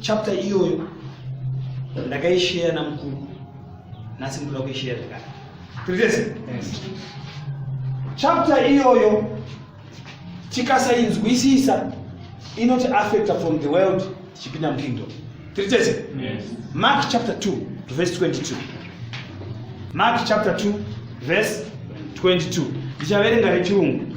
chapter iyoyo ndakaishare namukuru nhasi ndikuda kuishare zvakare tiriese chapter iyoyo tikasainzwisisa inoti affecta from the world tichipinda mukingdom tiri tese mark chapter 2 to verse 22 mark chapter 2 verse 22 ndichaverenga rechirungu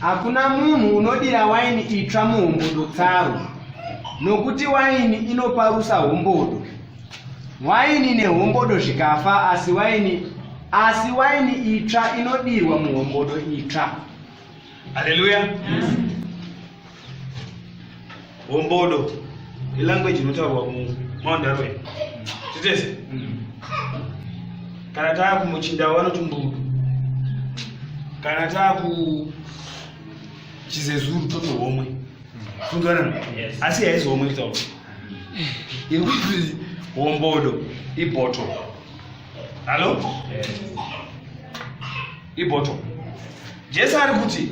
Hakuna munhu unodira waini itsva muhombodo tsaro, nokuti waini inoparusa hombodo. Waini nehombodo zvikafa, asi waini asi waini itsva inodirwa muhombodo itsva. Haleluya! Yes. hombodo ilanguage inotaurwa mumaundarwen titese kana taa kumuchindawo vanoti mbudu kana taa kuchizezuru toti homwe funzana asi haizi homwe kutaura yekuti hombodo iboto hallo iboto jesu ari kuti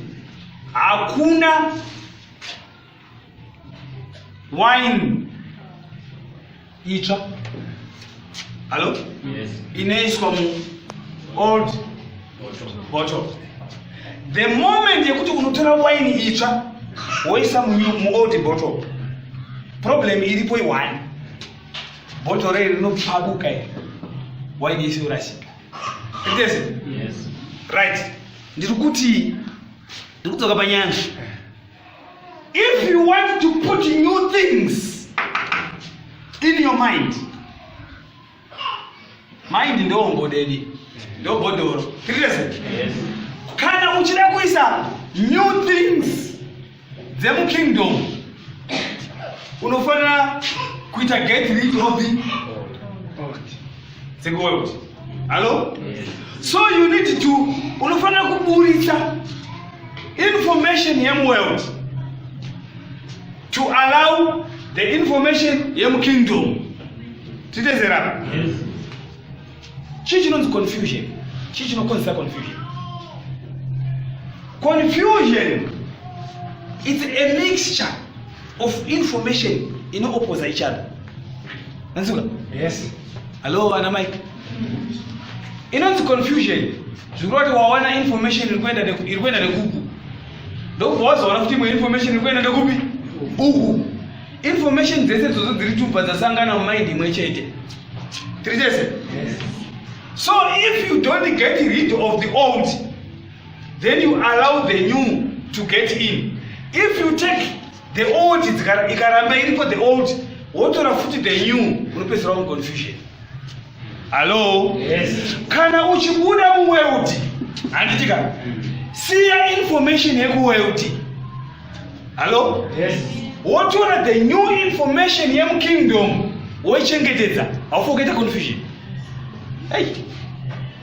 hakuna wine itsva hallo yes. inoiswa mu old bottle the moment yekuti unotora wine itsva woisa mu old bottle problem iripo iwani bottle rei rinopfabuka iri wine yese yorasika right ndiri kuti ndiri kudzoka panyaya if you want to put new things in your mind mind ndombodedi ndobhodoro yes. kana uchida kuisa new things dzemukingdom unofanira kuita get rid of the dzekuworld hallo so you need to unofanira kuburitsa information yemuworld to allow the information yemukingdom titezera yes. chii chinonzi confusion chii chinokonzesa confusion confusion its a mixture of information inooposa each other nanzuka yes hallo ana mike inonzi confusion zvikureva kuti wawana information iri kuenda iri kuenda nekuku ndokubva wazoona kuti imwe information iri kuenda nekupi uku information dzese dzodzo dziri tubva dzasangana mumind imwe chete tiri tese so if you don't get rid of the old then you allow the new to get in if you take the old ikaramba iriko the old wotora futi the new unopedzera un confusion hallo yes. kana uchibuda muweldi handitika siya information yekuweldi hallo yes. wotora the new information yemukingdom woichengetedza haufi ukaita confusion hey.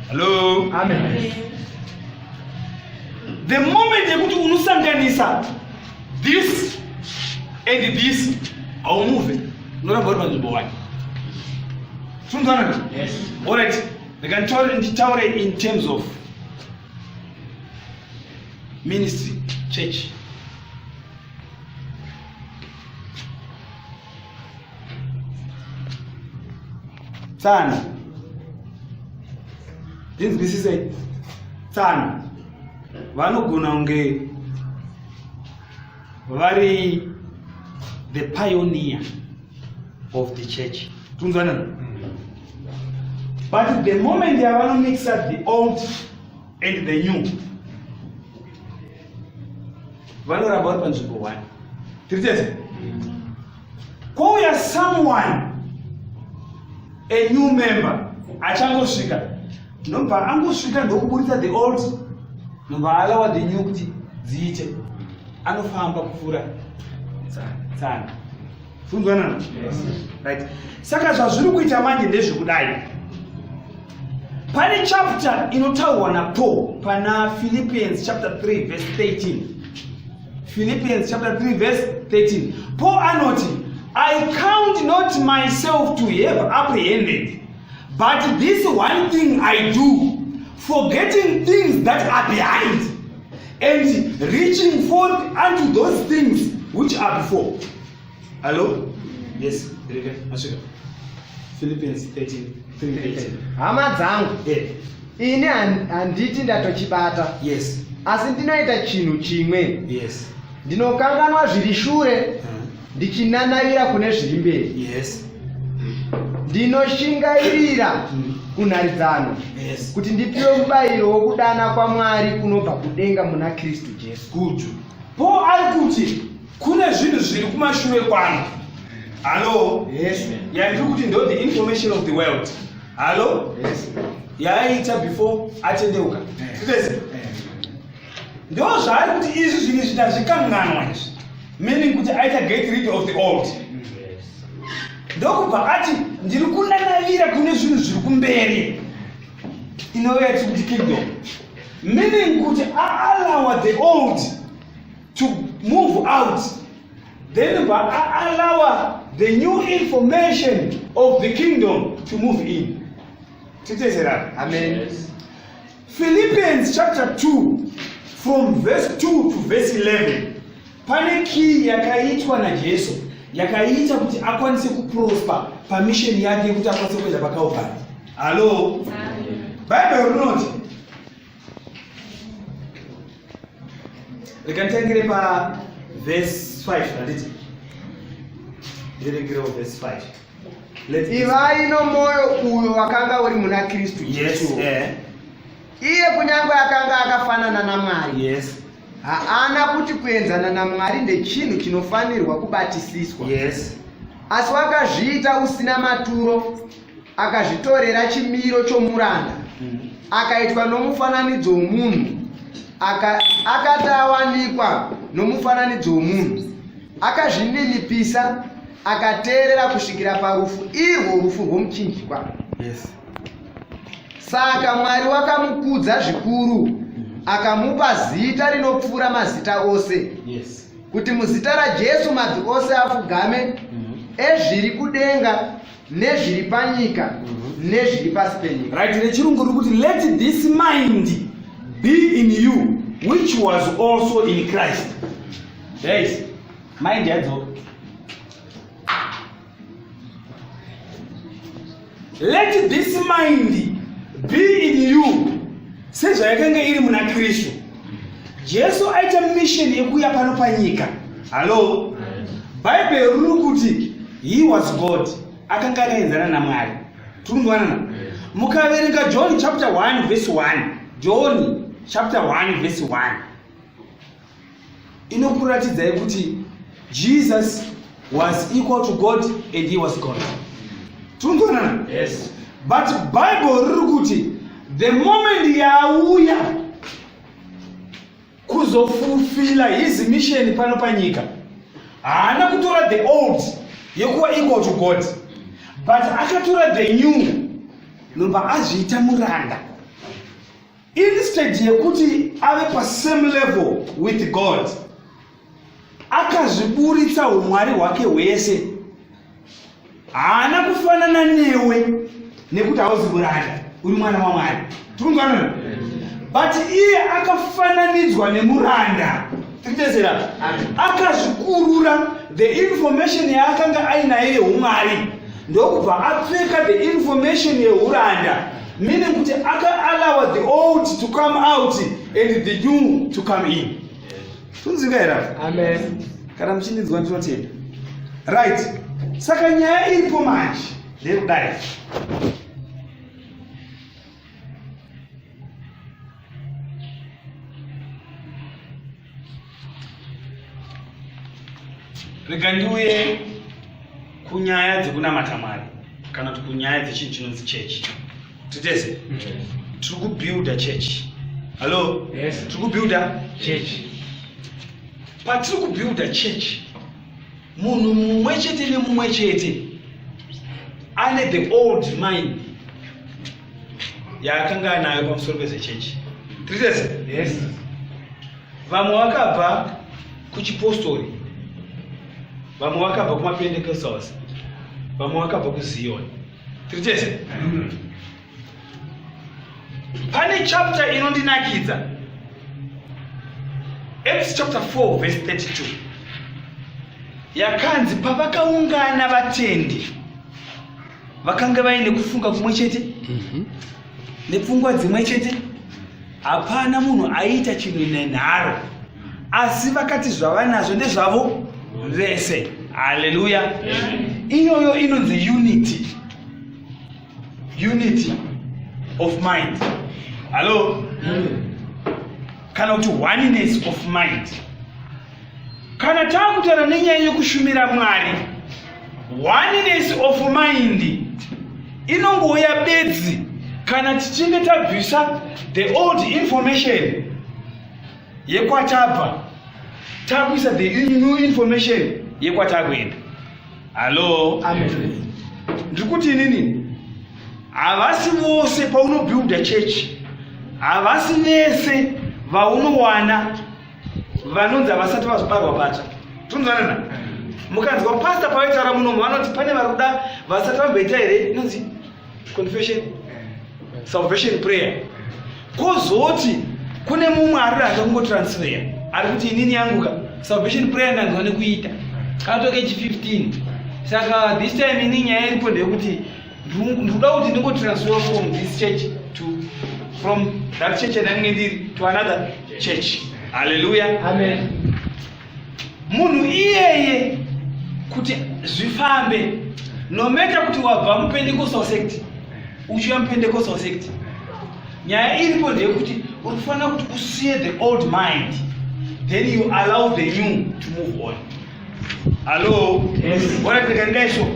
hallo Amen. the moment yekuti unosanganisa this and this haumuve unoramba uri panzvimbo wani sunzanaka Yes. All right. They can tell, tell in terms of ministry church tsano ndinzwisisei tsano vanogona kunge vari the pioneer of the church tunzwanana but the moment yavanomixa the old and the new vanoramba vari panzvimbo one tiri tese kwouya someone a new member achangosvika nobva angosvika ndokuburitsa the old nobva alawa the new kuti dziite anofamba kupfuura tsana funzwanana right saka zvazviri kuita manje ndezvekudai pane chapter inotaurwa napaul pana philippians chapter 3 verse 13 philippians chapter 3 verse 13 paul anoti i count not myself to have apprehended but this one thing i do forgetting things that are behind and reaching forth unto those things which are before Hello? Yes, Rika, masvika. Philippians 13, 3:18. hama dzangu Eh, ini han- handiti ndatochibata yes, asi ndinoita chinhu chimwe yes. ndinokanganwa zviri shure Uh, ndichinanavira kune zviri mberi yes. ndinoshingairira Mm. kunharidzano Yes. kuti ndipiwe mubayiro wokudana kwamwari kunobva kudenga muna kristu jesu Good. Paul ari kuti kune zvinhu zviri kumashure kwangu hallo yes. yandiri kuti ndo the information of the world hallo yes. yaaiita before atendeuka yes. Eh. ndo zvaari kuti izvi zvinhu izvi ndazvikanganwa izvi meaning kuti aita get rid of the old ndokubva ati ndiri kunanavira kune zvinhu zviri kumberi inove yatiri kuti kingdom meaning kuti aalawa the old to move out then allow the new information of the kingdom to move in titezera amen yes. philippians chapter 2 from verse 2 to verse 11 pane kii yakaitwa najesu yakaita kuti akwanise kuprosper pamisheni yake yekuti akwanise kuenda pakalvari hallo bible rinoti rikanditangire pavhesi 5 handiti ndiringirewo vhesi 5 ivai nomwoyo uyo wakanga uri muna kristu jesu yes, eh. iye kunyange akanga akafanana namwari yes. haana kuti kuenzana namwari ndechinhu chinofanirwa kubatisiswa yes. asi wakazviita usina maturo akazvitorera chimiro chomuranda akaitwa nomufananidzo womunhu Aka- akati awanikwa nomufananidzo womunhu akazvininipisa akateerera kusvikira parufu irwo rufu rwomuchinjikwa Yes. saka mwari wakamukudza zvikuru akamupa zita rinopfuura mazita ose Yes. kuti muzita rajesu mabvi ose afugame Mhm. ezviri kudenga nezviri panyika mhm. nezviri pasi penyika right nechirungu riri kuti let this mind be in you which was also in christ yes mind yadzo let this mind be in you sezvayakanga iri muna kristu jesu aita mission yekuuya pano panyika hallo bhaibheri riri kuti he was god akanga akaenzana namwari tirikunzwanana mukaverenga john chapter 1 verse 1 john chapter 1 verse 1 inokuratidzai kuti jesus was equal to god and he was god tirikunzwanana yes. but bible riri kuti the moment yaauya kuzofulfila his mission pano panyika haana kutora the old yekuva equal to god but akatora the new nobva azviita muranda instead yekuti ave pasame level with god akazviburitsa umwari hwake hwese haana kufanana newe nekuti hauzi kuranda uri mwana wamwari tikunzwanana but iye akafananidzwa nemuranda tikutesera akazvikurura the information yaakanga ainayo yeumwari ndokubva apfeka the information yeuranda meaning kuti akaallowa the old to come out and the new to come in tunzika here amen kana muchindidzwa ndinotenda right saka nyaya iripo manje ndeyekudai rega ndiuye kunyaya dzekunamata mwari kana kuti kunyaya dzechinhu chinonzi chechi titese tiri kubuilda church hallo yes. tiri kubuilda church patiri kubuilda church munhu mumwe chete nemumwe chete ane the old mind yaakanga anayo pamusoro pezechechi tiri tese yes. vamwe vakabva kuchipostori vamwe vakabva kumapendekesals vamwe vakabva kuziyoni tiri tese pane chapter inondinakidza acts chapter 4 verse 32 yakanzi pavakaungana vatendi vakanga vaine kufunga kumwe chete Mhm. nepfungwa dzimwe chete hapana munhu aiita chinhu nenharo asi vakati zvavanazvo ndezvavo vese haleluya iyoyo inonzi unity unity of mind hallo kana kuti oneness of mind Kana takutaura nenyaya yokushumira Mwari, oneness of mind inongouya bedzi kana tichinge tabvisa the old information yekwatabva takuisa the new information yekwatakuenda. Hallo, ndiri kuti inini havasi vose paunobuilda church havasi vese vaunowana vanonzi havasati vazvibarwa patsva tonzwanana mukanzwa pasta pavaitaura munomu vanoti pane vari kuda vasati vamboita here inonzi confession salvation prayer kozoti kune mumwe ari ranga kungotransfera ari kuti inini yanguka salvation prayer ndanzwa nekuita katoke chi 15 saka this time ini nyaya iripo ndeyekuti ndikuda kuti ndingo transfer from this church to from that church yandange ndiri to another church haleluya amen munhu iyeye kuti zvifambe nometa kuti wabva mupendecostal sect uchiuya mupendecostal sect nyaya iripo ndeyekuti unofanira kuti usiye the old mind then you allow the new to move on hallo waratirika ndesho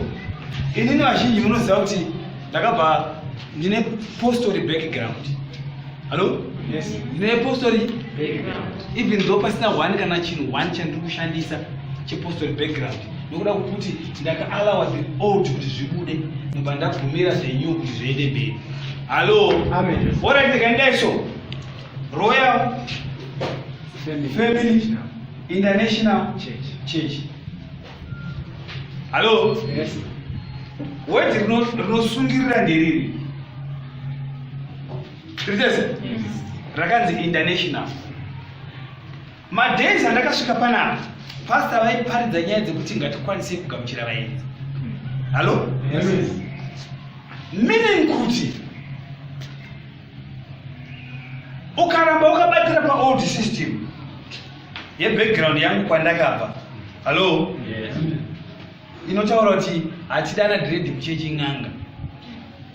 inini vazhinji munoziva kuti ndakabva ndine postori background hallo ndine postori even though pasina one kana chinhu one chandiri kushandisa chepostori background nokuda kwokuti ndakaalawa the old kuti zvibude ndobva ndabvumira the new kuti zviende mberi hallo waratirika ndesho royal family International Church. Church. Hello? Yes. Word rinosungirira nderiri. Ritese? Yes. Rakanzi international. Madays andakasvika panapa, pastor vaiparidza nyaya dzekuti ngatikwanise kugamuchira vaenzi. Hello? Yes. Meaning kuti ukaramba ukabatira pa old system ye background yangu kwandakabva hallo yes. inotaura kuti hatidana dread kuchechi n'anga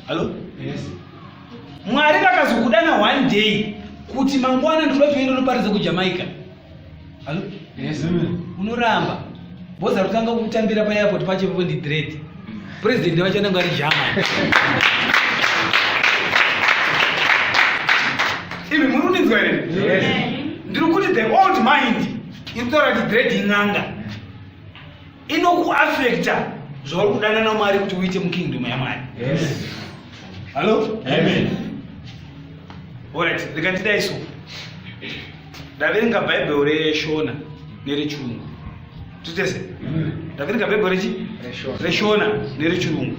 hallo yes. mwari vakazokudana one day kuti mangwana ndikuda kuenda unoparidza kujamaica Hello? Yes, ma'am. Unoramba. Boss arikutanga kutambira pa airport pacho ipapo ndi dread. President wacho anenge ari German. Imi muri kundinzwa here? Yes. Ndiri kuti the old mind inotaura kuti dread in'anga. inokuafekta zvauri kudanana mwari kuti uite mukingdom yamwari hallo orit rikandidai so ndaverenga bhaibheri reshona nerechirungu titese ndaverenga bhaibheri rechi reshona nerechirungu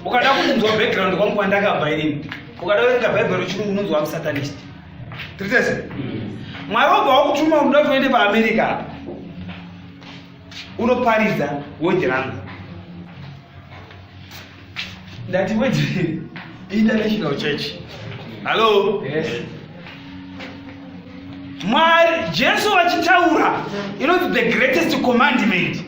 ukada kunzwa background kwangu kwandakabva inini ukada kuverenga bhaibheri rechirungu unonzwa musatanist tiritese mwari obva wakutuma unoda kuti uende paamerica apa unoparidza weji rangu ndati weji international church hallo yes. mwari jesu vachitaura inoti the greatest commandment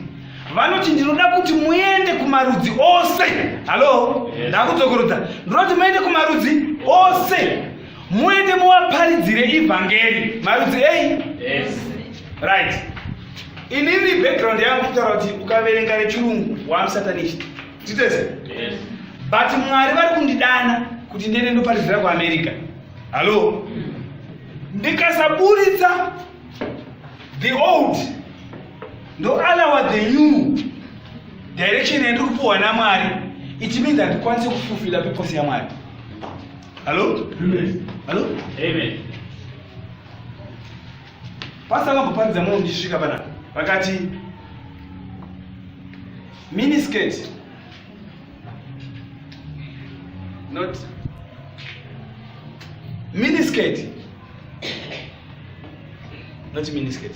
vanoti ndinoda kuti muende kumarudzi ose hallo ndakudzokorudza ndinoti muende kumarudzi ose muende muvaparidzire ivhangeri marudzi ei yes. right inini background yangu kutaura kuti ukaverenga rechirungu wamusatanist titese yes. but mwari vari kundidana kuti ndiende ndoparidzira kuamerica hallo ndikasaburitsa the old ndoalawa the new direction yandiri kupiwa namwari it means handikwanise kufulfilla purpose yamwari Hello? Amen. Hello? Amen. Pastor vakaparidza mumwe ndisvika pana vakati mini skirt not mini skirt not mini skirt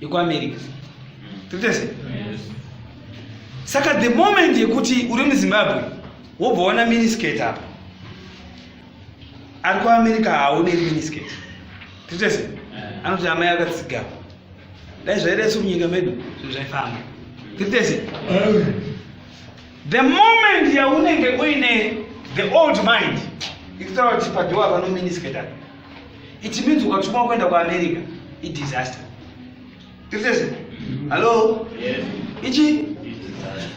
yekuamerica totese saka the moment yekuti uri muzimbabwe wobva waona minisket apa ari kuamerica haaoneri minisket totese eh. anoti amai akatsigawa dai zvairesu munyika medu zvinhu zvaifamba totese the moment yaunenge uine the old mind ikutaura kuti padhowa pano minisket apa it means ukatumwa kuenda kuamerica idisaster tirisese hallo ichi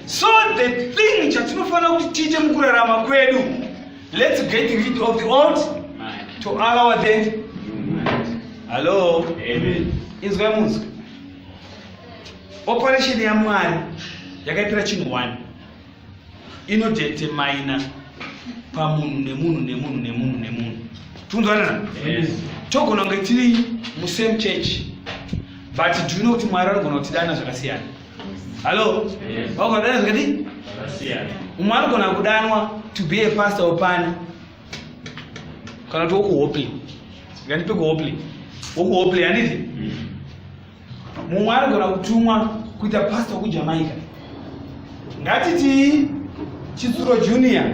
so the thing chatinofanira kuti tiite mukurarama kwedu let's get rid of the old to allow the hallo inzwai munzwa operation yamwari yakaitira chinhu one inodetermina pamunhu nemunhu nemunhu nemunhu nemunhu tikunzwanana togona kunge tiri musame church but do you know kuti mwari anogona kutidana zvakasiyana hallo vagona kudana zvakati umwe anogona kudanwa to be a pastor opani kana kuti wokuhopley ngandipe kuhopley wokuhopley handiti mm. mumwe anogona kutumwa kuita pastor kujamaica ngatitii chitsuro junior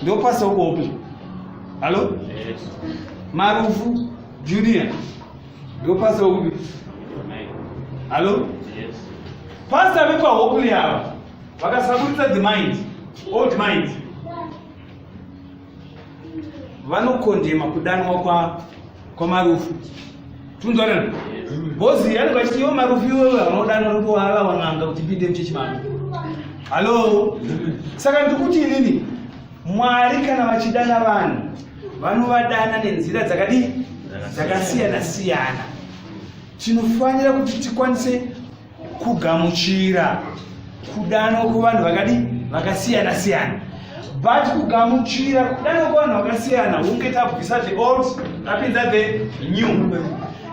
ndo pastor ukuopi hallo marufu junior ndo pastor ukupi hallo pastor vepahopley ava vakasaburitsa the mind old mind vanokondema kudanwa kwa kwamarufu tunzwanana bhozi yani vachiti ivo marufu ivo vanodanwa kuti wava wan'anga kuti pinde muchechimano hallo saka ndikuti inini mwari kana vachidana vanhu vanovadana nenzira dzakadii dzakasiyana siyana tinofanira kuti tikwanise kugamuchira kudanwa kuvanhu vakadi vakasiyana siyana but kugamuchira kudanwa kuvanhu vakasiyana hunge tabvisa the old tapinza the new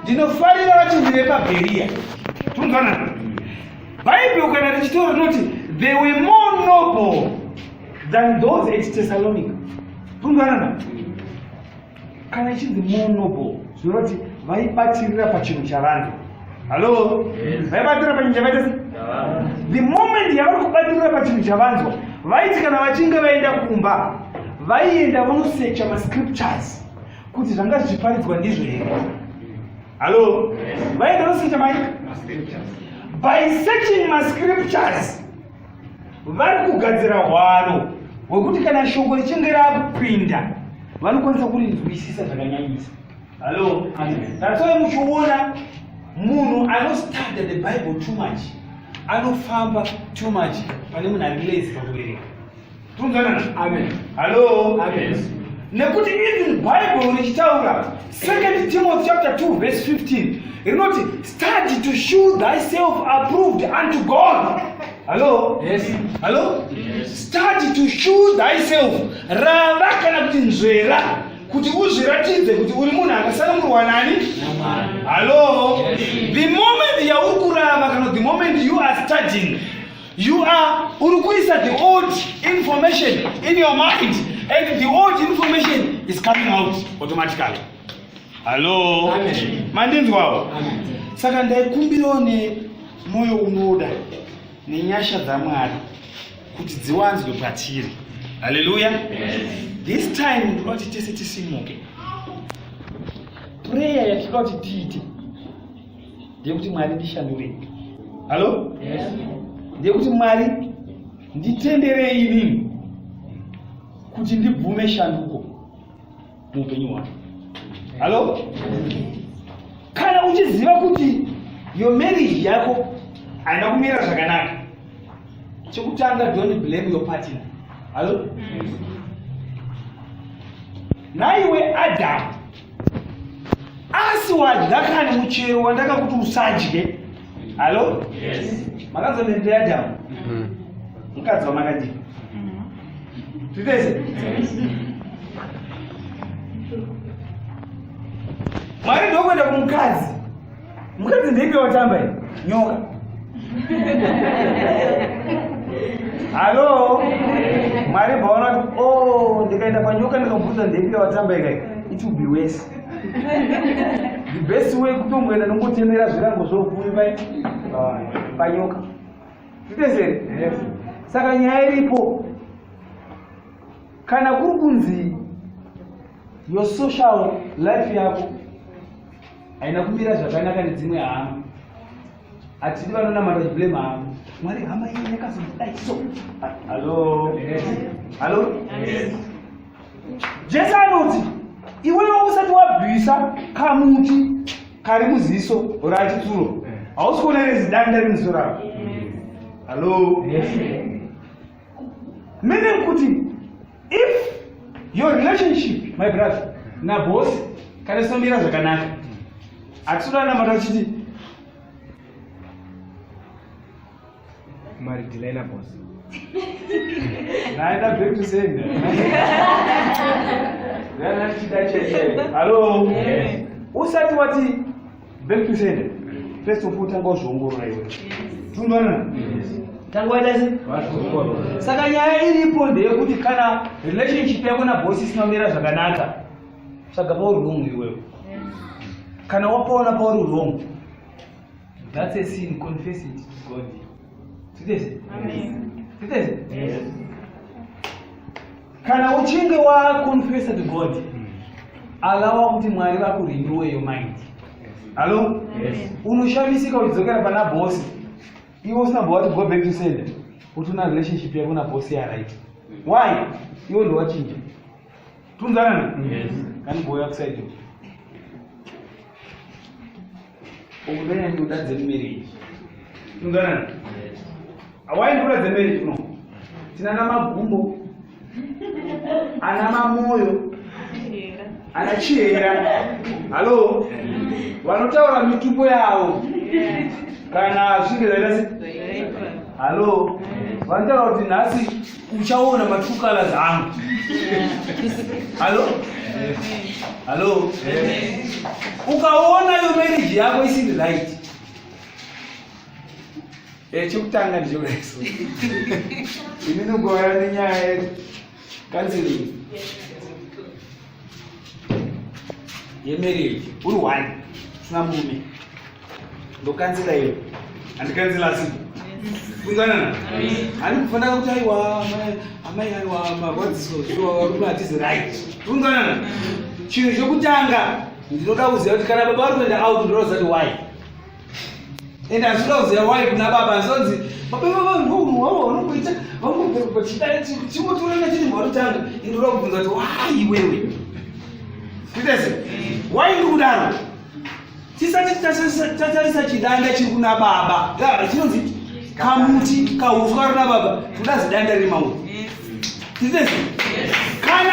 ndinofarira vatendi vepabheriya tumvanana bhaibheri ukaenda richitaura rinoti they were more noble than those at thessalonica tumvanana kana ichinzi more noble zvinoreva kuti vaibatirira pachinhu chavanhu hallo vaibatirira pachinhu chavaita the moment yavari kubatirira pachinhu chavanzwa vaiti kana vachinge vaenda kumba vaienda vonosecha mascriptures kuti zvanga zvichiparidzwa ndizvo here hallo vaienda vonosecha mai by searching mascriptures vari kugadzira hwaro hwekuti kana shoko richinge rakupinda vanokwanisa kurinzwisisa zvakanyanyisa hallo natsoi muchiona munhu anostadya the bible too much anofamba too much pane munhu ari lazy pakuvereka Tunzanana. Amen. Hello. Amen. Nekuti even Bible richitaura Second Timothy chapter 2 verse 15 rinoti study to show thyself approved unto God. Hello. Yes. Hello. Yes. Study to show thyself. Rava kana kuti nzvera kuti uzviratidze kuti uri munhu akasanangurwa nani halo the moment yauri kurava kana the moment you are studying You are uri kuisa the old information in your mind and the old information is coming out automatically. Hello. Amen. Mandinzwawo. Amen. Saka ndaikumbirawo ne moyo unoda nenyasha dzaMwari kuti dziwanzwe patiri. Hallelujah. Yes. This time ndinoda kuti tese tisimuke. Prayer yatinoda kuti tiite ndeyekuti mwari ndishandurei hallo ndeyekuti mwari nditenderei inini kuti ndibvume shanduko muupenyu hwako hallo kana uchiziva kuti yo marriage yako haina kumira zvakanaka chekutanga don't blame your partner hallo naiwe adamu asi wadya kani muchero wandakakuti usadye hallo makazonendeadamu hmm. mukadzi wamakadii titese mwari ndokuenda kumukadzi mukadzi ndeipi watamba i nyoka hallo mwari baona kuti o oh, ndikaenda panyoka ndikabvunza ndeipi watamba ikai it will be worse the best way kutongoenda nongotemera zvirango zvokumi pai panyoka nditezere saka nyaya iripo kana kuri kunzi your social life yako haina kumira zvakanaka nedzimwe hama hatidi vanonamata chiblame hama mwari hama iyi yakazodai so hallo hallo jesu anoti iwewo usati wabvisa kamuti kari muziso or achitsuro hausi kuona rezidanda remusoravo hallo meaning kuti if your relationship my brother nabosi kana sinomira zvakanaka atisodanamata tichiti mari dilaina bosi naenda back to send hello usati wati back to sender first of all tanga wazviongorora iwe tinoona tanga waita se saka nyaya iripo ndeyekuti kana relationship yako nabosi isina kumira zvakanaka tsvaga pauri wrong iwewe kana wapaona pauri wrong that's a sin confess it to god Yes. Yes. kana uchinge waconfessa to god hmm. alawa kuti mwari vakurinduwe yo mind hallo unoshamisika uchidzokera pana bosi iwe usina bova kuti go back to sender kuti una relationship yako na bosi yaright why iwe ndowachinja tunzanana kani boya kusaidi Ukudai ndoda dzemumeriji. Tunzana. Awai ndoda dzemeriji kuno. Tina na magumbo. Ana mamoyo. Ana chihera. Halo. Vanotaura mitumbo yavo. Kana zvinge zvaita Halo. Vanotaura kuti nhasi uchaona ma true colors angu halo halo ukaona yo marriage yako isiri right Eh, chekutanga ndichoreso ini nogora nenyaya yekanziringi yemereri uri one usina murume ndokanzila iyo handikanzila asi kunganana hani kufanira kuti aiwa amai aiwa marwadziso zviwa varume hatizi right kunganana chinhu chokutanga ndinoda kuziva kuti kana baba vari kuenda out ndinoda kuzati why ende hazvina kuziva wai kuna baba azonzi bababa vanhu wavo vanongoita vangochimutorana chiri mharo changu ende uda kubvunza kuti wai iwewe kuitese wai ndi kudaro tisati tatarisa chidanda chiri kuna baba chinonzi kamuti kauswa rina baba kuda zidanda riri mauri kuitese kana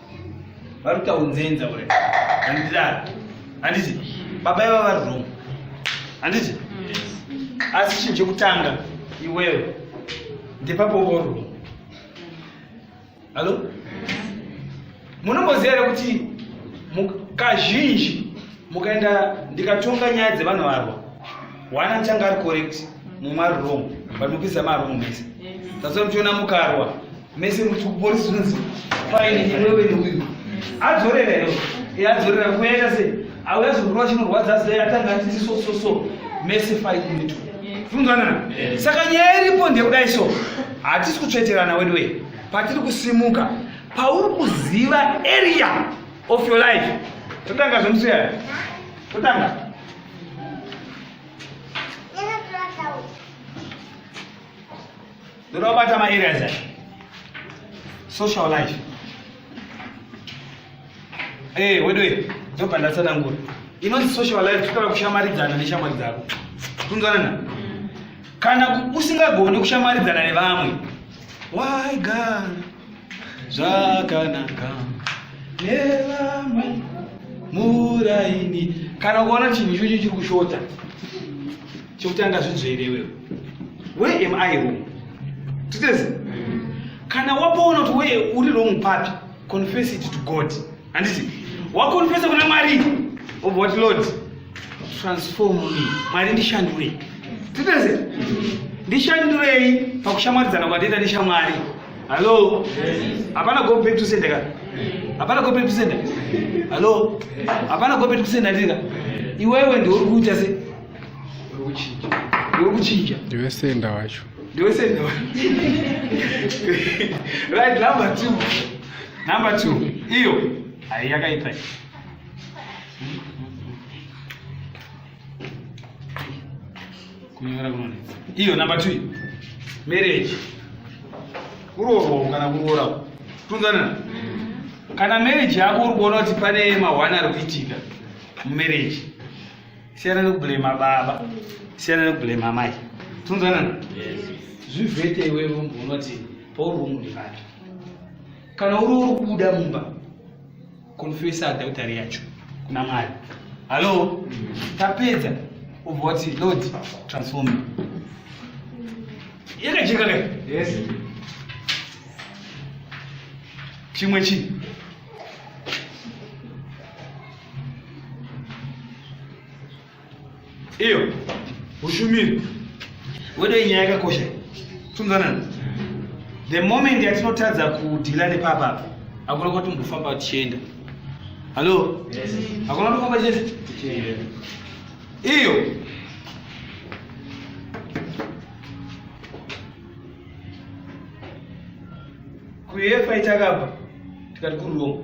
varikuta unzenza ure andidaro handiti baba iva vari wrong handiti asi chinhu chekutanga iwewe ndepapo vo wrong hallo munomboziva here kuti kazhinji mukaenda ndikatonga nyaya dzevanhu varwa one achanga ari correct mumwe ari wrong but mupisa marwong mese that's why muchiona mukarwa mese muti kupolisi zvinonzi faini iwewe neuyu adzorera iyo adzorera kuyaita sei auya zvikurwa chinorwadza zai atanga atiti so so so mese faini mitu funzwanana saka nyaya iripo ndekudai so hatisi kutsveterana weduwe patiri kusimuka pauri kuziva area of your life totanga zvemusiya totanga ndoda kubata maareas aya social life ee eh, wedoe ndobva ndatsanangura inonzi social life totara kushamaridzana neshamwari dzako kunzwanana kana usingagoni kushamaridzana nevamwe why god zvakanaka nevamwe muraini kana ukaona chinhu ichocho chiri kushota chekutanga zvinzvere iwewe where am i wrong titezi kana wapoona kuti wee uri wrong papi confess it to god handiti wakonfesa kuna mwari of what lord transform me mwari ndishandure titeze ndishandurei pakushamwaridzana kwandida neshamwari hallo hapana go back to sender ka hapana go back to sender hallo hapana go back to sender ndika iwewe ndiuri kuita se urikuchinja ndiwe senda wacho ndiwe senda wacho right number two number two iyo ayi yakaita kunyora kunonetsa iyo number two marriage kuroorwa kana kuroora tunzanana kana marriage yako uri kuona kuti pane mahwani ari kuitika mumarriage siyana nekublema baba siyana nekublema mai tinonzwanana zvivhete iwewe mumba unoti pauri umuri vapi kana uri uri kubuda mumba konfesa adhautari yacho kuna mwari hallo tapedza ubva wati lord transform yakajeka ka yes chimwe chii iyo ushumiri wedo inyaya yakakosha tumzanana the moment yatinotadza kudhila nepapapa akuna kuti mbofamba tichienda hallo hakuna tofamba tichienda iyo kuyefa itakabva tikati kuriroma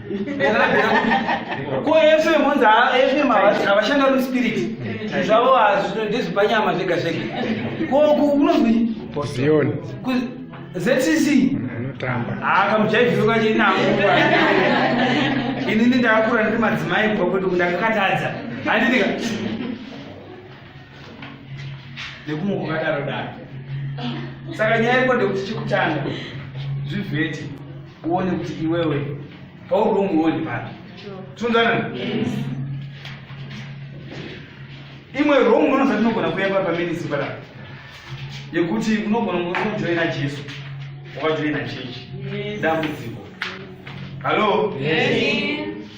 ko fm onzi fm havashanda uri spirit zvavo ndezvepanyama zvega zvega ko unonzi zioni zcc akamujaivhiuka chinako inini ndakakura ndiri madzimai bva kuti ndakakatadza handinika nekumwe kukadaro daro saka nyaya iko ndekuti chekutanga zvivheti uone kuti iwewe pauri umuoni papi tiunzana imwe rong unoza tinogona kuyamba pamenisipara yekuti unogona kujoina jesu wakajoina chechi dambudziko hallo yes.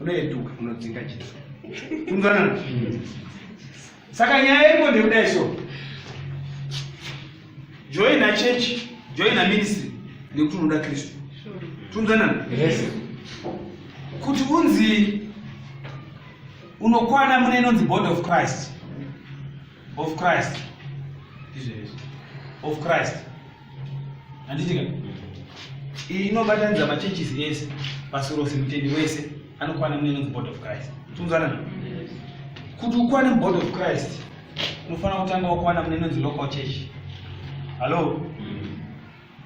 unoyetuka unodzinga jesu kunzwanana saka nyaya iriko ndekudai so joina chechi joina ministry nekuti unoda kristu tunzanana kuti unzi unokwana mune inonzi body of christ of christ of christ handiti ka iyi inobatanidza machurches ese pasi rose mutendi wese anokwana mune inonzi body of christ tinzwana kuti ukwane mubody of christ unofanira kutanga wakwana mune inonzi local church hallo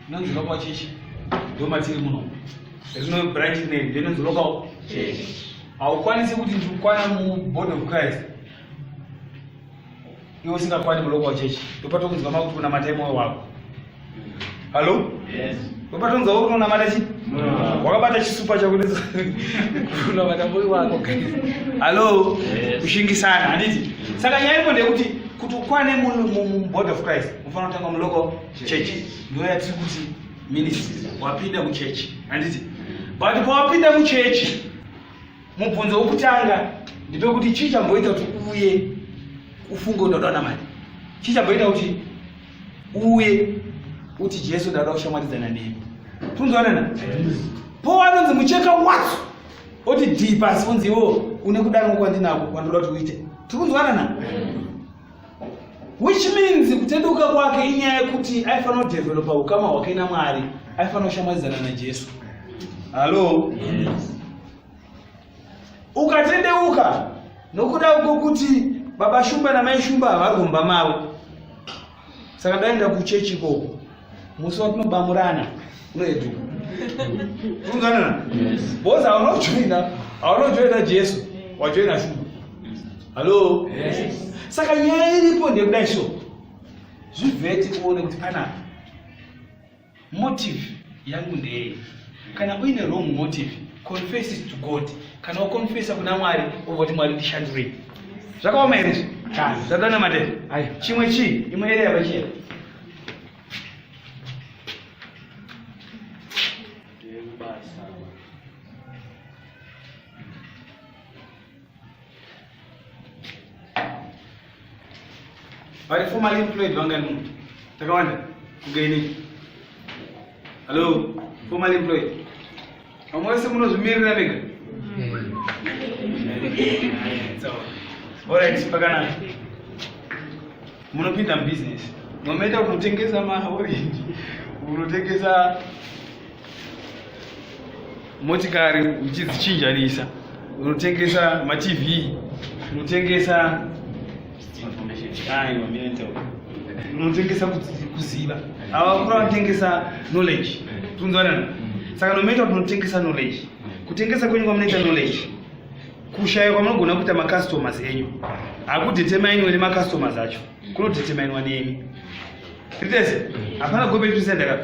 inonzi local church ndomatiri muno rino branch name ndinonzi local church haukwanisi kuti ndikukwana mubody of christ iwe usingakwani mulocal church ndopatokunzwa makuti kunamata imoyo wako hallo ndopatokunzwa uri kunamata chi wakabata chisupa chakunamata moyo wako hallo kushingisana handiti saka nyaya iko ndeyekuti kuti ukwane mubody of christ unofanira kutanga mulocal church ndiyo yatiri kuti ministry wapinda muchechi handiti but pawapinda muchechi Mubvunzo wokutanga ndipe kuti chii chamboita kuti uye ufunge kuti unoda namani chii chamboita kuti uye uti jesu ndauda kushamwaridzana nemi tunzwanana po anonzi mucheka watso oti dii pasi unzi iwo une kudanwa kwandinako kwandoda kuti uite tiri kunzwanana which means kutendeuka kwake inyaya yekuti aifanira kudevelopa ukama hwake namwari aifanira kushamwadzana najesu hallo yes. ukatendeuka nokuda kwokuti baba shumba namai shumba havarumba mavo saka ndaenda kuchechi ikoko musi watinobamurana unoedu unzwanana bhozi aunojoina aunojoina jesu wajoina shuga hallo saka nyaya iripo ndekudai so zvivheti uone kuti pana motive yangu ndeyei kana uine wrong motive confess it to god kana wakonfesa kuna mwari ovoti mwari ndishandurei zvakaoma here zvadana madere chimwe chii imwe ere yavachiya vari formally employed vangani munhu takawanda kugainei hallo formally employed Vamwe vese munozvimirira mega. Alright, pakanaka. Munopinda business. Munoita kunotengesa ma orange. Munotengesa motikari uchidzichinjanisa. Unotengesa ma TV. Unotengesa unotengesa kuziva avakura vanotengesa knowledge tinzwanana saka nomaita kuti unotengesa knowledge kutengesa kwenyu kwamunoita knowledge kushaya kwamunogona kuita macustomers enyu hakudeterminwe nemacustomers acho kunodeterminwa nemi ritese hapana gobe tusendaka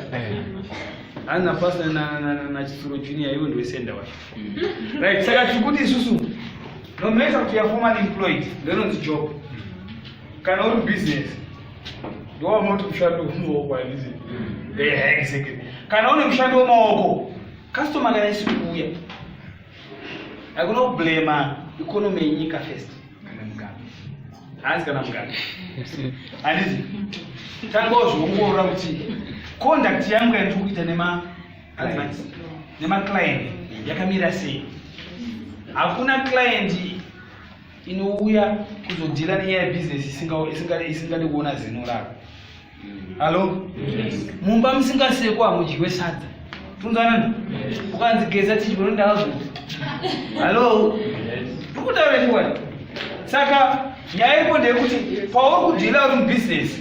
hanapasa nachisuro junior iwe ndiwesenda wacho right saka tiri kuti isusu nomatter kuti you're formal employed ndononzi job kana uri business ndowaunoti mushando wemaoko handizi exactly kana une mushando wemaoko customer kana isi kuuya akunoblema economy yenyika first kana mugabe hanzi kana mugabe handizi tanga wazviongorora kuti conduct yangu yandiri kuita nema nemaclient yakamira sei hakuna client inouya kuzodhira nenyaya yebusiness isingade kuona zino rako hallo mumba musingasekwa hamudyiwe sadza tunzanana ukanzi geza tichibonondaazo hallo tikutaura chiwani saka nyaya iko ndeyekuti pauri kudhira uri mubusiness